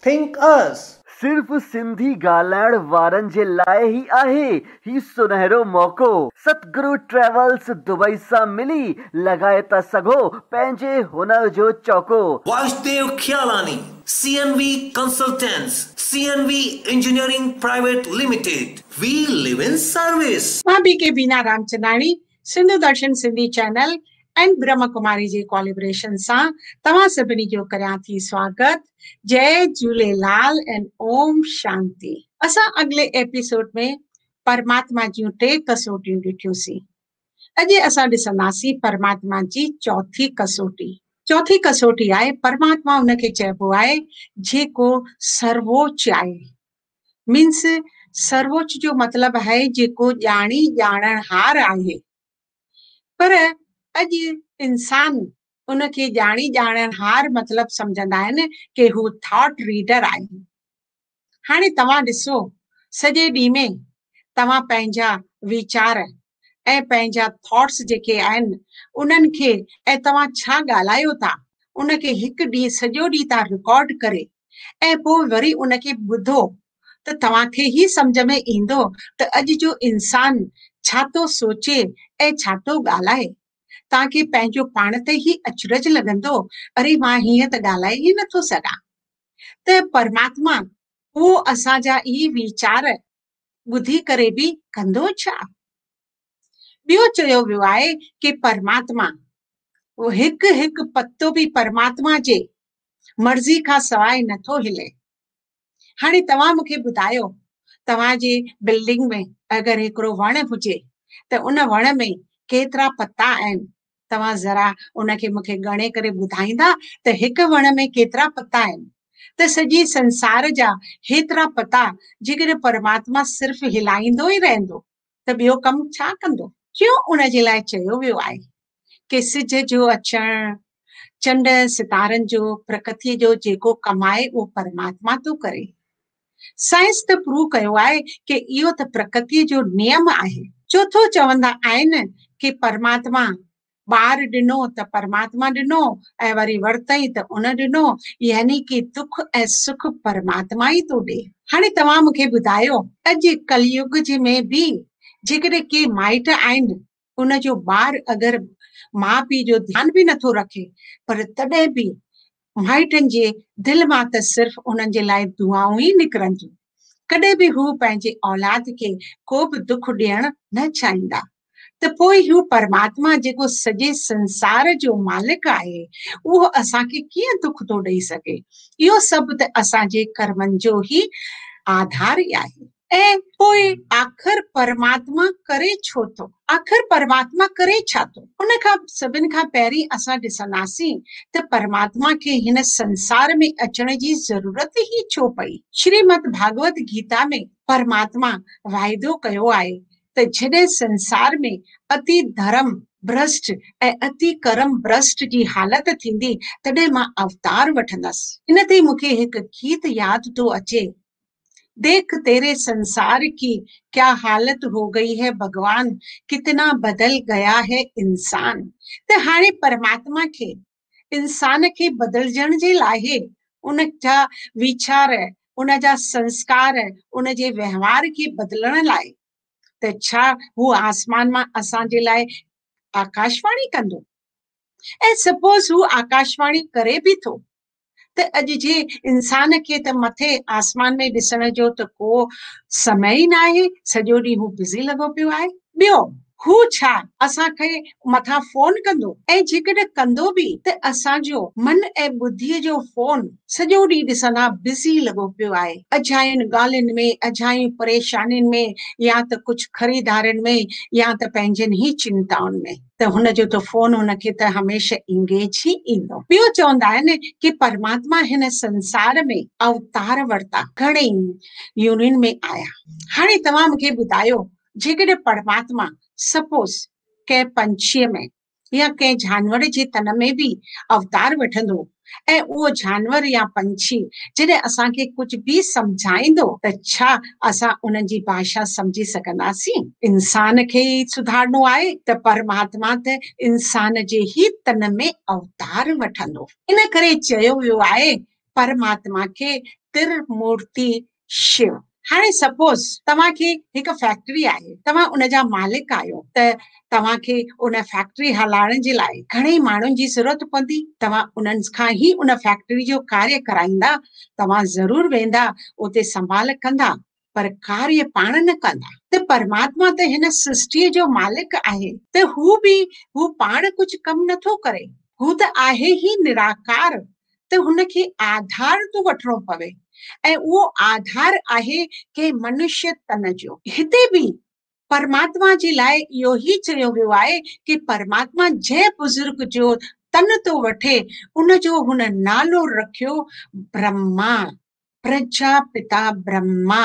Think Us. صرف سنڌي ڳالهائڻ وارن جي لاء ئي آهي هي سنهرو موقعو. ستگرو ٽريولز دبئي سان ملي لڳائي ٿا سگهو پنهنجي هنر جو چوڪو. Vasdev Khialani, C N V consultants, C N V engineering private limited, we live in service. مان B K Bina Ramchandani Sindhu Darshan Sindhi channel ۽ Brahma Kumari جي ڪوليبريشن سان توهان سڀني جو ڪريان ٿي سواگت جئي جهوليلال ۽ اوم شانتي. اسان اڳلي ايپيسوڊ ۾ پرماتما جون ٽي ڪسوٽيون ڏٺيون سين اڄ اسان ڏسنداسين پرماتما جي چوٿي ڪسوٽي چوٿي ڪسوٽي آهي پرماتما ان کي چئبو آهي جيڪو سرووچ آهي مينس سرووچ جو مطلب آهي جيڪو ڄاڻي ڄاڻڻهار آهي پر اڄ انسان ان کي ڄاڻي ڄاڻڻهار مطلب سمجهندا آهن ڪي هو ٿاٽ ريڊر آهي هاڻي توهان ڏسو سڄي ڏينهن ۾ توهان پنهنجا ويچار ۽ پنهنجا ٿاٽس جيڪي آهن انهن کي ۽ توهان ڇا ڳالهايو ٿا ان کي هڪ ڏينهن سڄو ڏينهن تان رڪارڊ ڪري ۽ پوء وري ان کي ٻڌو ته توهان کي هي سمجهه ۾ ايندو ته اڄ جو انسان ڇا ٿو سوچي ۽ ڇا ٿو ڳالهائي. توهان کي پنهنجو پاڻ تي ئي اچرج لڳندو اري مان هيئن ته ڳالهائي ئي نٿو سگهان ته پرماتما اهو اسان جا ئي ويچار ٻڌي ڪري به ڪندو ڇا؟ ٻيو چيو ويو آهي ڪي پرماتما هڪ هڪ پتو به پرماتما جي مرضي کان سواء نٿو هلي. هاڻي توهان مون کي ٻڌايو توهان جي بلڊنگ ۾ اگر هڪڙو وڻ هجي ته ان وڻ ۾ ڪيترا پتا آهن توهان ذرا ان کي مون کي ڳڻي ڪري ٻڌائيندا ته هڪ وڻ ۾ ڪيترا پتا آهن؟ ته سڄي سنسار جا هيترا پتا جيڪڏهن پرماتما صرف هلائيندو ئي رهندو ته ٻيو ڪم ڇا ڪندو؟ ٽيون ان جي لاء چيو ويو آهي ڪي سج جو اچڻ، چنڊ ۽ ستارن جو، پرڪتيء جو جيڪو ڪم آهي اهو پرماتما ٿو ڪري. سائنس ته پروو ڪيو آهي ڪي اهو ته پرڪتي جو نيم آهي. چوٿون چوندا آهن ڪي پرماتما، ٻار ڏنو ته پرماتما ڏنو ۽ وري ورتئين ته ان ڏنو يعني ڪي دک ۽ سک پرماتما ئي ٿو ڏي. هاڻي توهان مون کي ٻڌايو اڄ ڪليوگ جي ۾ به جيڪڏهن ڪي مائٽ آهن ان جو ٻار اگر ماء پيء جو ڌيان به نه ٿو رکي پر تڏهن به مائٽن جي دل مان ته صرف انهن جي لاء دعائون ئي نڪرن ٿيون. ڪڏهن به هو پنهنجي اولاد کي ڪو به دک ڏيڻ نه چاهيندا. ته پوء هو پرماتما جيڪو سڄي سنسار جو مالڪ آهي اهو اسان کي ڪيئن دک ٿو ڏئي سگهي. اهو سڀ ته اسان جي ڪرمن جو ئي آڌار آهي. ۽ پوء آخر پرماتما ڪري ڇو ٿو؟ آخر پرماتما ڪري ڇا ٿو؟ ان کان سڀن کان پهرين اسان ڏسنداسين ته پرماتما کي هن سنسار ۾ اچڻ جي ضرورت ئي ڇو پئي؟ شريمد ڀاڳوت گيتا ۾ پرماتما واعدو ڪيو آهي ته جڏهن سنسار ۾ اتي ڌرم ڀرشٽ ۽ اتي ڪرم ڀرشٽ جي حالت ٿيندي تڏهن مان اوتار وٺندس. ان تي مون کي هڪ گيت ياد ٿو اچي ديک تيري سنسار ڪي ڪيا حالت هو گئي هي ڀڳوان ڪتنا بدل گيا هي انسان ته هاڻي پرماتما کي انسان کي بدلجڻ جي لاء ان جا ويچار ان جا سنسڪار ان جي وهنوار کي بدلڻ لاء ته ڇا هو آسمان مان اسان جي لاء آڪاشواڻي ڪندو ۽ سپوز هو آڪاشواڻي ڪري به ٿو ته اڄ جي انسان کي ته مٿي آسمان ۾ ڏسڻ جو ته ڪو سمي ئي ناهي، سڄو ڏينهن هو بزي لڳو پيو آهي. ٻيو، هو ڇا اسان کي مٿان فون ڪندو ۽ جيڪڏهن ڪندو به ته اسان جو من ۽ ٻڌيء جو فون سڄو ڏينهن ڏسندا بزي لڳو پيو آهي، اجاين ڳالهين ۾، اجاين پريشانين ۾، يا ته ڪجهه خريدارين ۾ يا ته پنهنجين ئي چنتائن ۾. ته هن جو ته فون هن کي ته هميشه انگيج ئي ايندو. ٻيو چوندا آهن ڪي پرماتما هن سنسار ۾ اوتار ورتا، گهڻي ئي يونين ۾ آيا. هاڻي توهان مون کي ٻڌايو جيڪڏهن پرماتما سپوز ڪنهن پنڇيء ۾ يا ڪنهن جانور جي تن ۾ به اوتار وٺندو ۽ اهو جانور يا پنڇي جڏهن اسان کي ڪجهه به سمجهائيندو ته ڇا اسان انهن جي ڀاشا سمجهي سگهنداسين؟ انسان کي ئي سڌارڻو آهي ته پرماتما ته انسان جي ئي تن ۾ اوتار وٺندو. ان ڪري چيو ويو آهي پرماتما کي ترمورتي شيو، هاڻي سپوز توهان کي هڪ فيڪٽري آهي، توهان ان جا مالڪ آهيو ته توهان کي ان فيڪٽري هلائڻ جي لاء گهڻي ماڻهن جي ضرورت پوندي، توهان انهن کان ئي ان فيڪٽري جو ڪاريه ڪرائيندا، توهان ضرور ويندا اتي سنڀال ڪندا پر ڪاريه پاڻ نه ڪندا ته پرماتما ته هن سرشٽيء جو مالڪ آهي ته هو به هو پاڻ ڪجهه ڪم نٿو ڪري، هو ته آهي ئي نراڪار ته هن کي آڌار ٿو وٺڻو پوي ۽ اهو آڌار آهي ڪنهن منشي تن جو. هتي به پرماتما جي لاء اهو ئي چيو ويو آهي ته پرماتما جنهن بزرگ جو تن ٿو وٺي ان جو هن نالو رکيو برهما، پرجاپتا برهما.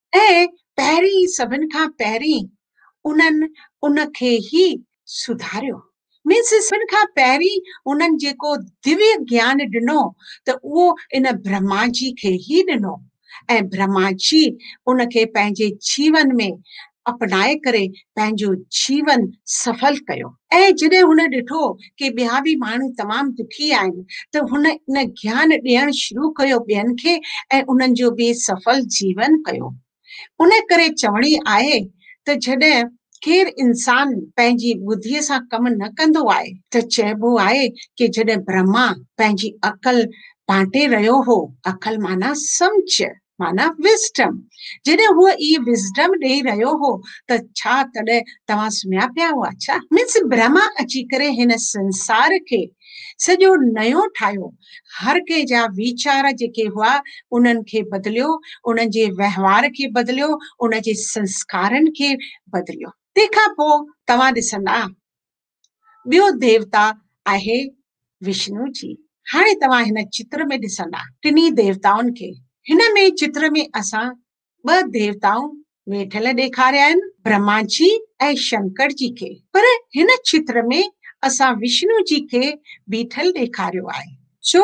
۽ پهرين سڀن کان پهرين انهن ان کي ئي سڌاريو Means سڀن کان پهرين انهن جيڪو ديوي گيان ڏنو ته اهو ان برهما جي کي ئي ڏنو ۽ برهما جي ان کي پنهنجي جيون ۾ اپنائي ڪري پنهنجو جيون سڦل ڪيو. ۽ جڏهن هن ڏٺو ڪي ٻيا به ماڻهو تمام دکي آهن ته هن ان گيان ڏيڻ شروع ڪيو ٻين کي ۽ انهن جو به سڦل جيون ڪيو. ان ڪري چوڻي آهي ته جڏهن ڪير انسان پنهنجي ٻڌي سان ڪم نه ڪندو آهي ته چئبو آهي ڪي جڏهن برهما پنهنجي عقل بانٽي رهيو هو، عقل معنيٰ سمجهه، معنيٰ Wisdom. جڏهن هو اي Wisdom ڏيئي رهيو هو ته ڇا تڏهن توهان سمهيا پيا هئا ڇا؟ Means برهما اچي ڪري هن سنسار کي سڄو نيو ٺاهيو، هر ڪنهن جا ويچار جيڪي هئا انهن کي بدليو، انهن جي وهنوار کي بدليو، انهن جي سنسڪارن کي بدليو. تنهن کان پوء توهان ڏسندا ٻيو ديوتا آهي وشنو جي. هاڻي توهان هن چتر ۾ ڏسندا ٽنهي ديوتائن کي. هن ۾ چتر ۾ اسان ٻه ديوتائون ويٺل ڏيکاريا آهن، برهما جي ۽ شنڪر جي کي. پر هن چتر ۾ اسان وشنو جي کي بيٺل ڏيکاريو آهي. ڇو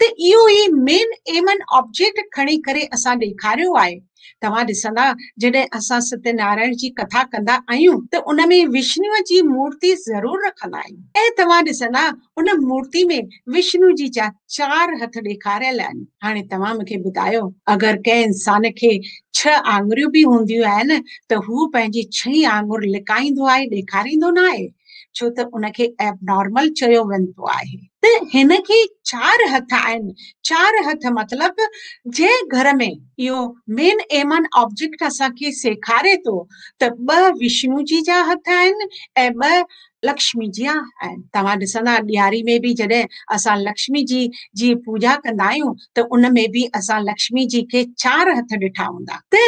ته اهو ئي مين ايمن آبجيڪٽ کڻي ڪري اسان ڏيکاريو آهي. توهان ڏسندا جڏهن اسان ستيه نارائڻ جي ڪٿا ڪندا آهيون ته ان ۾ وشنوء جي مورتي ضرور رکندا آهيون ۽ توهان ڏسندا ان مورتي ۾ وشنو جي جا چار هٿ ڏيکاريل آهن. هاڻي توهان مون کي ٻڌايو اگر ڪنهن انسان کي ڇهه آڱريون به هونديون آهن ته هو پنهنجي ڇهين آڱر لڪائيندو آهي ڏيکاريندو نه آهي؟ ڇو ته ان کي ائبنارمل چيو ويندو آهي. ته هن کي چار هٿ آهن. چار هٿ مطلب جنهن گهر ۾ اهو مين ايمان آبجيڪٽ اسان کي سيکاري ٿو ته ٻه وشنو جي جا هٿ آهن ۽ ٻه لڪشمي جيا آهن. توهان ڏسندا ڏياري ۾ به جڏهن اسان لڪشمي جي جي پوڄا ڪندا آهيون ته ان ۾ به اسان لڪشمي جي کي چار هٿ ڏٺا هوندا. ته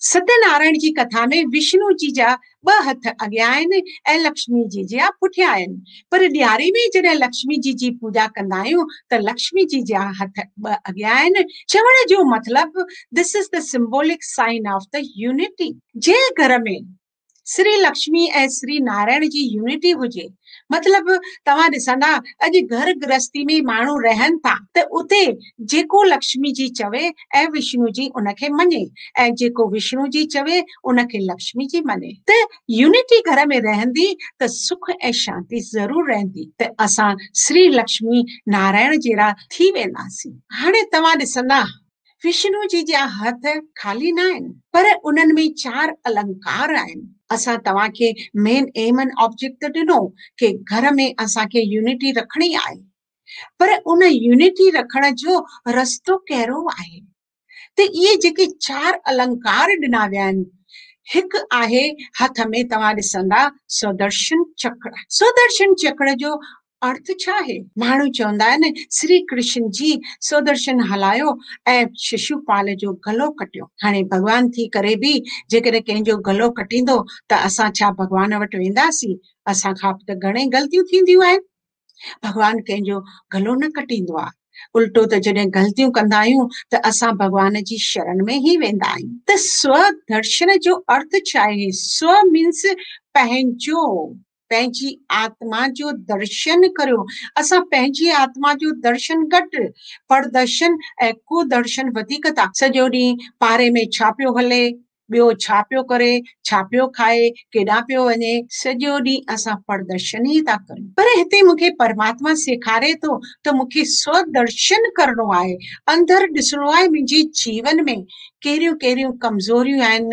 ستيا نارائڻ جي ڪٿا ۾ وشنو جي جا ٻه هٿ اڳيان آهن ۽ لڪشمي جي جيا پٺيان آهن، پر ڏياري ۾ جڏهن لڪشمي جي جي پوڄا ڪندا آهيون ته لڪشمي جي جيا هٿ ٻه اڳيان آهن، چوڻ جو مطلب This is the symbolic sign of the unity. جنهن گهر ۾ سري لڪشمي ۽ سري نارائڻ جي يونٽي هجي مطلب توهان ڏسندا اڄ گهر گرهستي ۾ ماڻهو رهن ٿا ته اتي جيڪو لڪشمي جي چوي ۽ وشنو جي ان کي مڃي ۽ جيڪو وشنو جي چوي ان کي لڪشمي جي مڃي ته يونٽي گهر ۾ رهندي ته سک ۽ شانتي ضرور رهندي ته اسان سري لڪشمي نارائڻ جهڙا ٿي وينداسين هاڻي توهان ڏسندا وشنو جي جا هٿ خالي ناهن، پر انهن ۾ چار المڪار آهن. اسان توهان کي مين ايمن آبجيڪٽ ته ڏنو ڪي گهر ۾ اسان کي يونٽي رکڻي آهي، پر ان يونٽي رکڻ جو رستو ڪهڙو آهي؟ ته اهي جيڪي چار المڪار ڏنا ويا آهن، هڪ آهي هٿ ۾ توهان ڏسندا سودرشن چڪر. سودرشن چڪر جو ارٿ ڇا آهي؟ ماڻهو چوندا آهن، سري ڪرشن جي سودرشن هلايو ۽ ششو پال جو گلو ڪٽيو. هاڻي ڀڳوان ٿي ڪري به جيڪڏهن ڪنهن جو گلو ڪٽيندو ته اسان ڇا ڀڳوان وٽ وينداسين؟ اسان کان به ته گهڻي غلطيون ٿينديون آهن. ڀڳوان ڪنهن جو گلو نه ڪٽيندو آهي. الٽو ته جڏهن غلطيون ڪندا آهيون ته اسان ڀڳوان جي شرن ۾ ئي ويندا آهيون. ته سو درشن جو ارٿ ڇا آهي؟ سو مينس پنهنجو. پنهنجي آتما جو درشن ڪريو. اسان پنهنجي آتما جو درشن گهٽ، پردرشن ۽ ڪودرشن وڌيڪ ٿا. سڄو ڏينهن پاري ۾ ڇا پيو هلي، ٻيو ڇا پيو ڪري، ڇا پيو کائي، ڪيڏانهن پيو وڃي. سڄو ڏينهن اسان پردرشن ئي ٿا ڪريون. پر هتي مون کي پرماتما سيکاري ٿو ته مون کي سودرشن ڪرڻو آهي، اندر ڏسڻو آهي منهنجي جيون ۾ ڪهڙيون ڪهڙيون ڪمزوريون آهن،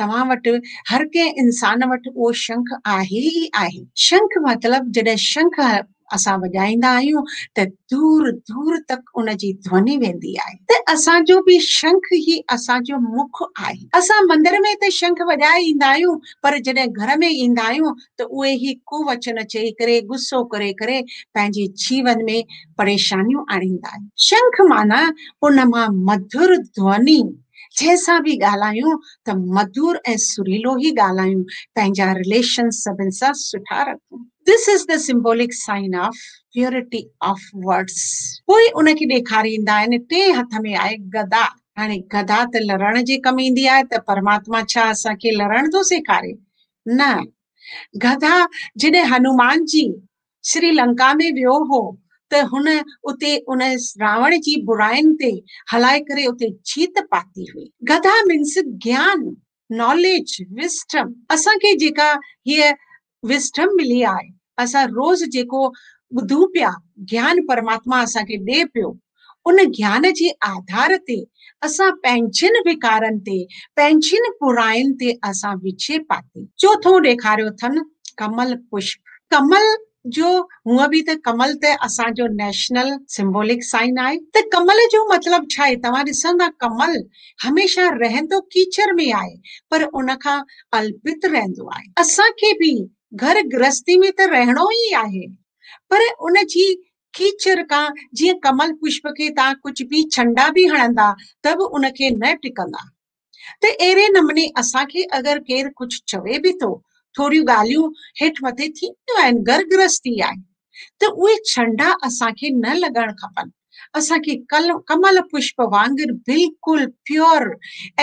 توهان وٽ هر ڪنهن انسان وٽ اهو شنک آهي ئي آهي. شنک مطلب جڏهن شنک اسان وڄائيندا آهيون ته دور دور تڪ ان جي ڌوني ويندي آهي ته اسان جو به شنک ئي اسان جو مک آهي. اسان مندر ۾ ته شنک وڄائي ايندا آهيون پر جڏهن گهر ۾ ايندا آهيون ته اهي ئي ڪووچن چئي ڪري غصو ڪري ڪري پنهنجي جيون ۾ پريشانيون آڻيندا آهن. شنک معنيٰ ان مان مڌر ڌوني جنهن سان به ڳالهايون ته مڌور ۽ سريلو ئي ڳالهايون، پنهنجا رليشنز سڀن سان سٺا رکون. This is the symbolic sign of purity of words پوء ان کي ڏيکاريندا آهن ٽئين هٿ ۾ آهي گدا، هاڻي گدا ته لڙڻ جي ڪم ايندي آهي ته پرماتما ڇا اسان کي لڙڻ ٿو سيکاري؟ نه، گدا جڏهن هنومان جي سري لنڪا ۾ ويو هو ته هن اتي ان راوڻ جي برائين تي هلائي ڪري اتي جيت پاتي هئي. گدا مينس گيان، Knowledge، Wisdom، اسان کي جيڪا هيء Wisdom ملي آهي، اسان روز جيڪو ٻڌون پيا، گيان پرماتما اسان کي ڏي پيو، ان گيان جي آڌار تي اسان پنهنجين به ڪارن تي، پنهنجين براين تي اسان وڇي پاتي. چوٿون ڏيکاريو اٿن ڪمل پشپ. ڪمل جو هونء به ته ڪمل ته اسان جو نيشنل سمبولڪ سائن آهي ته ڪمل جو مطلب ڇا آهي؟ توهان ڏسندا ڪمل هميشه رهندو ڪيچر ۾ آهي پر ان کان الپت رهندو آهي. اسان کي به گهر گرهستي ۾ ته رهڻو ئي آهي پر ان جي کيچر کان جيئن ڪمل پشپ کي تان ڪجهه به ڇنڊا به هڻندا ته به ان کي نه ٽڪندا ته اهڙي نموني اسان کي اگر ڪير ڪجهه چوي به ٿو، ٿوريون ڳالهيون هيٺ مٿي ٿينديون آهن، گهر گرهستي آهي ته اهي ڇنڊا اسان کي نه لڳڻ کپن، اسان کي ڪمل پشپ وانگر بلڪل پيور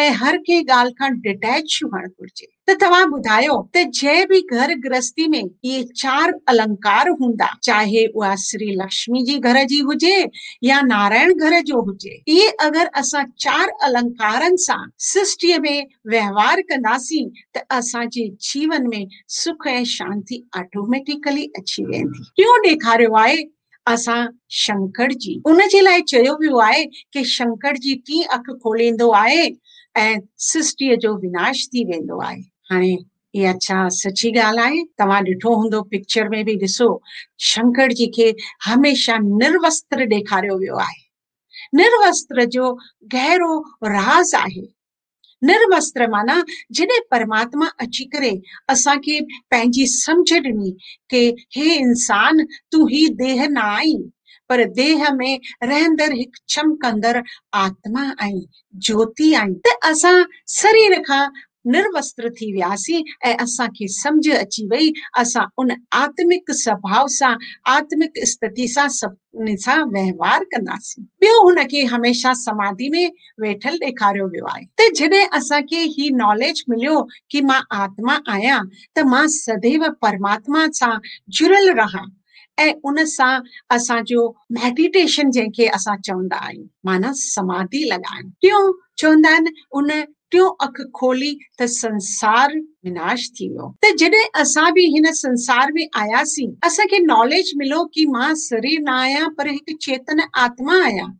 ۽ هر ڪنهن ڳالهه کان ڊٽيچ هئڻ گهرجي. ته توهان ٻڌايو ته جنهن به گهر گرهستي ۾ اهي چار المڪار هوندا، چاهي اها شري لڪشمي جي گهر جي هجي يا نارائڻ گهر جو هجي، اهي اگر اسان چار المڪارن سان سرشٽيء ۾ وهنوار ڪنداسين ته اسان جي جيون ۾ سک ۽ شانتي آٽوميٽيڪلي اچي ويندي. ٽيون ڏيکاريو آهي اسان شنڪر جي ان جي لاء چيو ويو آهي ڪي شنڪر جي ٽين اک کوليندو آهي ۽ سرشٽيء جو وناش ٿي ويندو آهي هاڻي اها ڇا سچي ڳالهه آهي توهان ڏٺو هوندو پڪچر ۾ به ڏسو شنڪر جي کي هميشه نروستر ڏيکاريو ويو آهي نروستر جو گهرو راز آهي نرمستر معنيٰ جڏهن پرماتما اچي ڪري اسان کي پنهنجي سمجهه ڏني ڪي هي انسان تون هي ديهه نه آهين پر ديهه ۾ رهندڙ هڪ چمڪندڙ آتما آهين، جوتي آهين. ته اسان سرير کان نرمستر ٿي وياسين ۽ اسان کي سمجهه اچي وئي اسان ان آتمڪ سڀاء سان آتمڪ استتي سان سڀ ان سان وهنوار ڪنداسين. ٻيو هن کي هميشه سماڌي ۾ ويٺل ڏيکاريو ويو آهي ته جڏهن اسان کي هي ناليج مليو ڪي مان آتما آهيان ته مان سديو پرماتما سان جڙيل رهان ۽ ان سان اسان جو ميڊيٽيشن جنهن کي اسان چوندا آهيون معنيٰ سماڌي لڳائڻ ٽيون چوندا آهن ان ٽيون اک کولي ته سنسار وناش ٿي ويو ته جڏهن اسان به هن سنسار ۾ آياسين اسان کي ناليج ملو ڪي مان سرير نه آهيان پر هڪ چيتن آتما آهيان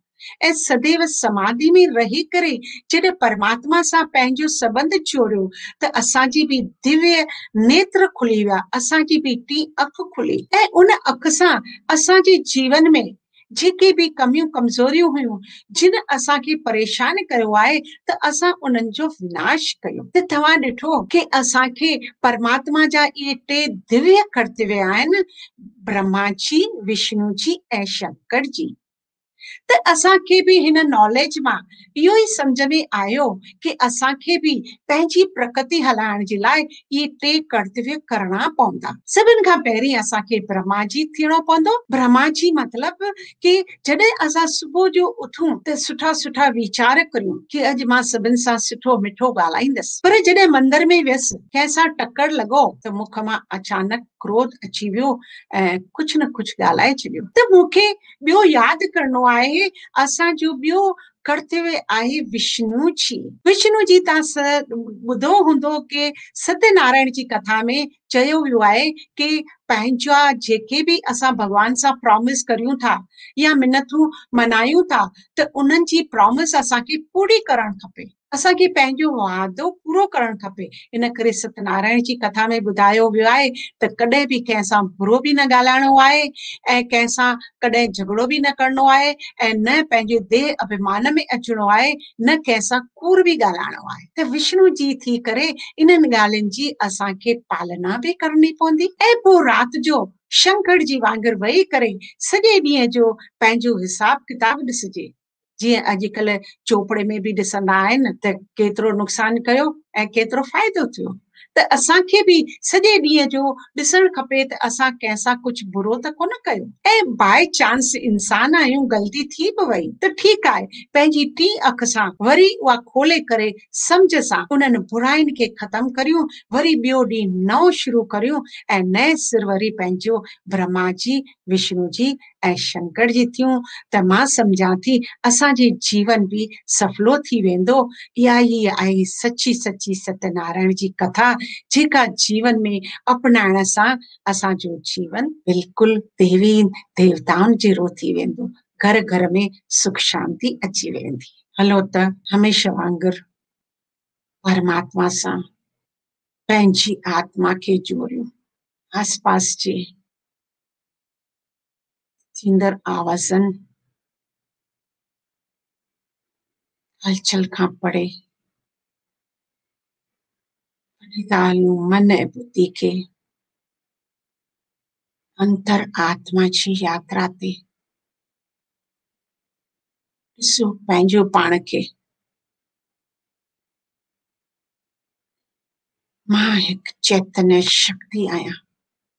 ۽ سديو سماڌي ۾ رهي ڪري جڏهن پرماتما سان پنهنجو سبنڌ جوڙيو ته اسان جي به ديوي نيتر کلي ويا اسان جي به ٽين اک کلي ۽ ان اک سان اسان جي جيون ۾ جيڪي به ڪميون ڪمزوريون هيون جن اسان کي پريشان ڪيو آهي ته اسان انهن جو وناش ڪيون ته توهان ڏٺو ڪي اسان کي پرماتما جا اهي ٽي ديويه ڪرتوي آهن برهما جي وشنو جي ۽ شنڪر جي ته اسان کي به هن ناليج مان اهو ئي سمجهه ۾ آيو ڪي اسان کي به پنهنجي پرڪتي هلائڻ جي لاء اهي ٽي ڪرتويه ڪرڻا پوندا. سڀن کان پهرين اسان کي برهماجي ٿيڻو پوندو. برهماجي مطلب ڪي جڏهن اسان صبح جو اٿون ته سٺا سٺا ويچار ڪريون ڪي اڄ مان سڀن سان سٺو مٺو ڳالهائيندس پر جڏهن مندر ۾ ويس ڪنهن سان ٽڪر لڳو ته مک مان اچانڪ ڪروڌ اچي ويو ۽ ڪجهه نه ڪجهه ڳالهائي ڇڏيو ته مون کي ٻيو ياد ڪرڻو آهي اسان جو ٻيو ڪرتوي آهي وشنو جي. وشنو جي تان س ٻڌو هوندو ڪي ستي نارائڻ جي ڪٿا ۾ چيو ويو آهي ڪي پنهنجا جيڪي به اسان ڀڳوان سان پرامس ڪريون ٿا يا منٿون منايون ٿا ته انهن جي پرامس اسان کي پوري ڪرڻ کپي. اسان کي پنهنجو وعدو پورو ڪرڻ کپي. ان ڪري ست نارائڻ جي ڪٿا ۾ ٻڌايو ويو آهي ته ڪڏهن به ڪنهن سان برو به نه ڳالهائڻو آهي ۽ ڪنهن سان ڪڏهن جهڳڙو به نه ڪرڻو آهي ۽ نه پنهنجي ديهه اڀيمان ۾ اچڻو آهي نه ڪنهن سان ڪوڙ به ڳالهائڻو آهي. ته وشنو جي ٿي ڪري انهن ڳالهين جي اسان کي پالنا به ڪرڻي پوندي. ۽ پوء رات جو شنکڙ جي وانگر ويهي ڪري سڄي ڏينهن جو پنهنجو حساب ڪتاب ڏسجي. جيئن اڄڪلهه چوپڙي ۾ به ڏسندا آهن ته ڪيترو نقصان ڪيو ۽ ڪيترو فائدو ٿيو ته اسان کي به سڄي ڏينهن جو ڏسڻ کپي ته اسان ڪنهن سان ڪجهه برو ته ڪونه ڪيو ۽ باء چانس انسان آهيون غلطي ٿي به وئي ته ٺيڪ آهي پنهنجي ٽين اک سان وري اها کولي ڪري سمجهه سان انهن براين کي ختم ڪريون وري ٻيو ڏينهن نئون شروع ڪريون ۽ نئين سر وري پنهنجو برهما جي وشنو جي ۽ شنڪر جي ٿيون ته مان سمجهان ٿي اسان جي جيون به سڦلو ٿي ويندو. اها ئي آهي سچي سچي ستي نارائڻ جي ڪٿا جيڪا جيون ۾ اپنائڻ سان اسان جو جيون بلڪل ديوين ديوتائن جهڙو ٿي ويندو گهر گهر ۾ سک شانتي اچي ويندي. هلو ته هميشه وانگر پرماتما سان پنهنجي آتما کي جوڙيون آس پاس جي ٿيندڙ آوازن هلچل کان پڙهي ڳالهيون من ۽ ٻڌي کي اندر آتما جي ياترا تي ڏسو پنهنجو پاڻ کي مان هڪ چيتن شڪتي آهيان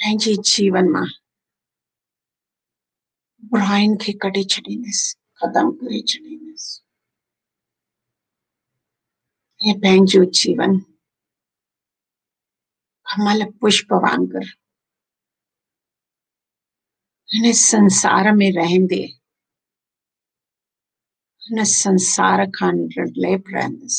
پنهنجي جيون مان براين کي ڪڍي ڇڏينديس ختم ڪري ڇڏينديس ۽ پنهنجو جيون ڪمل پشپ وانگر هن سنسار ۾ رهندي هن سنسار کان نرليپ رهندس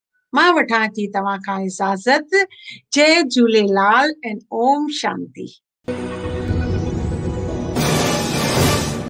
مان وٺان ٿي توهان کان اجازت جئي جهوليلال ۽ اوم شانتي.